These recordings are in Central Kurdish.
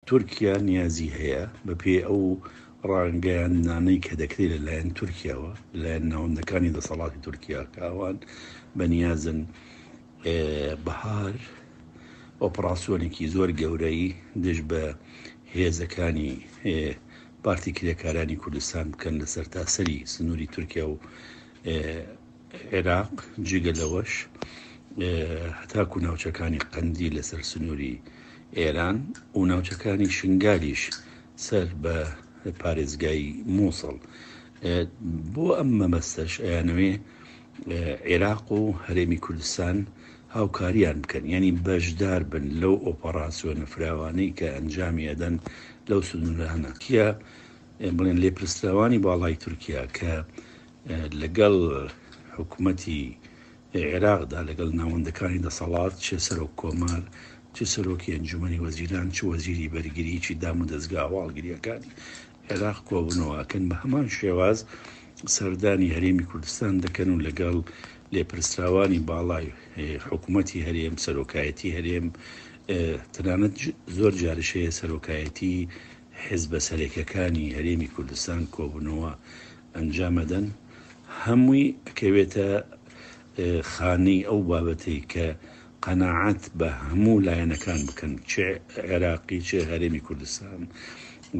تورکیا نیازی هەیە، بەپێی ئەو ڕاگەیاندنانەی کە دەکرێت لەلایەن تورکیاوە، لەلایەن ناوەندەکانی دەسەڵاتی تورکیا کە ئەوان بەنیازن بەهار ئۆپڕاسیۆنێکی زۆر گەورەی دژ بە هێزەکانی پارتی کرێکارانی کوردستان بکەن لە سەرتاسەری سنووری تورکیا و عێراق، جگە لەوەش هەتاکوو ناوچەکانی قەندیل لەسەر سنووری ئێران و ناوچەکانی شنگالیش سەر بە پارێزگای مووسڵ. بۆ ئەم مەبەستەش ئەیانەوێ عێراق و هەرێمی کوردستان هاوکاریان بکەن، یانی بەشدار بن لەو ئۆپەڕاسیۆنە فراوانەی کە ئەنجامی ئەدەن لەو سنوورانە. تیا بڵێن لێپرسراوانی باڵای تورکیا کە، لەگەڵ حکومەتی عێراقدا، لەگەڵ ناوەندەکانی دەسەڵات، چ سەرۆک کۆمار، چ سەرۆکی ئەنجومەنی وەزیران، چ وەزیری بەرگری، چی دامودەزگا هەواڵگرییەکانی عێراق کۆبوونەوە ئەکەن، بە هەمان شێواز سەردانی هەرێمی کوردستان دەکەن و لەگەڵ لێپرسراوانی باڵای حکومەتی هەرێم، سەرۆکایەتی هەرێم، تەنانەت زۆر جاریش هەیە سەرۆکایەتی حیزبە سەرەکیەکانی هەرێمی کوردستان کۆبوونەوە ئەنجام ئەدەن هەمووی ئەکەوێتە خانەی ئەو بابەتەی کە قەناعەت بە هەموو لایەنەکان بکەن چ عێراقی چ هەرێمی کوردستان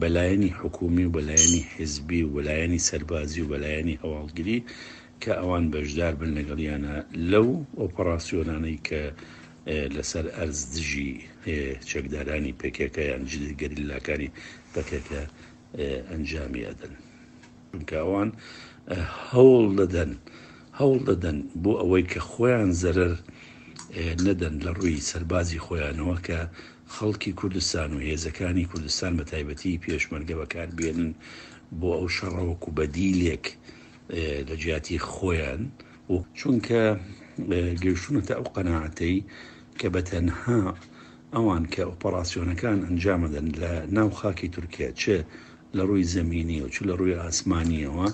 بەلایەنی حکومی و بەلایەنی حزبی و بەلایەنی سەربازی و بەلایەنی هەواڵگری کە ئەوان بەشدار بن لەگەڵیانە لەو ئۆپەڕاسیۆنانەی کە لەسەر ئەرز دژی چەکدارانی پێکەکە یان جدی گەریلاکانی پەکەکە ئەنجامی ئەدەن چونکە ئەوان هەوڵ دەدەن هەوڵ دەدەن بۆ ئەوەی کە خۆیان زەرەر نەدەن لە ڕووی سەربازی خۆیانەوە کە خەڵکی کوردستان و هێزەکانی کوردستان بە تایبەتی پێشمەرگە بەکار بێنن بۆ ئەو شەڕەوەکو بەدیلێک لە جیاتی خۆیان و چونکە گەیشتونەتە ئەو قەنەعاتەی کە بە تەنها ئەوان کە ئۆپەڕاسیۆنەکان ئەنجامدەن لە ناو خاکی تورکیا چ لە ڕووی زەمینی و چ لە ڕووی ئاسمانییەوە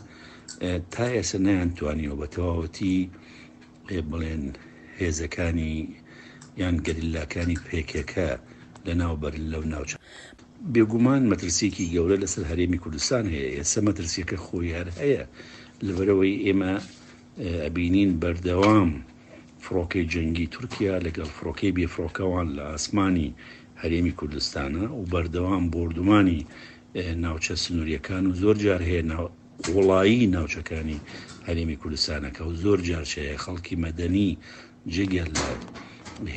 تا ئێسە نەیان توانیوە بە تەواوەتی بڵێن هێزەکانی یان گەریلاکانی پێکێکە لە ناوبەر لەو ناوچە. بێگومان مەترسیەکی گەورە لەسەر هەرێمی کوردستان هەیە ئێسە مەترسیەکە خۆی هەر هەیە لەبەرەوەی ئێمە ئەبینین بەردەوام فڕۆکەی جەنگی تورکیا لەگەڵ فڕۆکەی بێ فڕۆکەوان لە ئاسمانی هەرێمی کوردستانە و بەردەوام بۆردومانی ناوچە سنووریەکان و زۆر جار هەیە ناو قوڵایی ناوچەکانی هەرێمی کوردستانەکە و زۆر جارچەیە خەڵکی مەدەنی جگە لە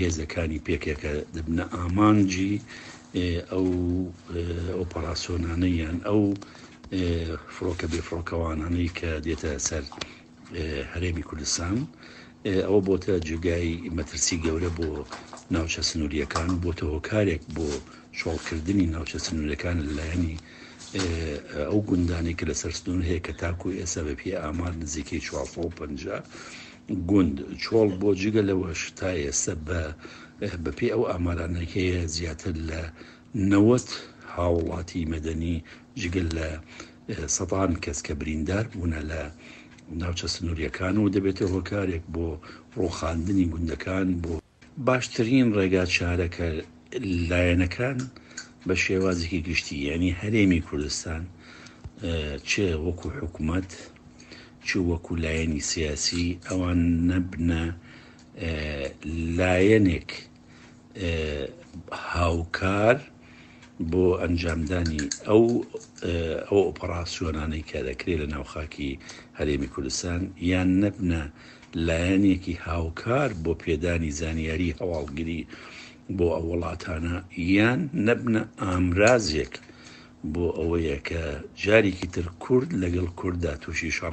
هێزەکانی پێکەکە دەبنە ئامانجی ئەو ئۆپەراسۆنانەی یان ئەو فڕۆکە بێ فڕۆکەوانانەی کە دێتە سەر هەرێمی کوردستان ئەوە بۆتە جێگای مەترسی گەورە بۆ ناوچە سنووریەکان و بۆتە هۆکارێک بۆ شۆڵکردنی ناوچە سنوورەکان لەلایەنی ئەو گوندانی کە لەسەر سنوور هەیە کە تاکو ئێستا بە پێ ئامار نزیکەی 450 گوند، چۆڵ بۆ جگە لەوەش تا ئێستا بە بە پێی ئەو ئامارانەی کە هەیە زیاتر لە نەوەد هاوڵاتی مەدەنی جگە لە سەدان کەس کە بریندار بوونە لە ناوچە سنوریەکان و دەبێتە هۆکارێک بۆ ڕوخاندنی گوندەکان بۆ باشترین ڕێگا چارەکە لایەنەکان بە شێوازێکی گشتی یعنی هەرێمی کوردستان چ وەکو حکوومەت چ وەکو لایەنی سیاسی ئەوان نەبنە لایەنێک هاوکار بۆ ئەنجامدانی ئەو ئەو ئۆپەڕاسیۆنانەی کە دەکرێت لە ناو خاکی هەرێمی کوردستان یان نەبنە لایەنێکی هاوکار بۆ پێدانی زانیاری هەواڵگری بۆ ئەو وڵاتانە یان نەبنە ئامرازێک بۆ ئەوەیە کە جارێکی تر کورد لەگەڵ کورددا تووشی شەڕ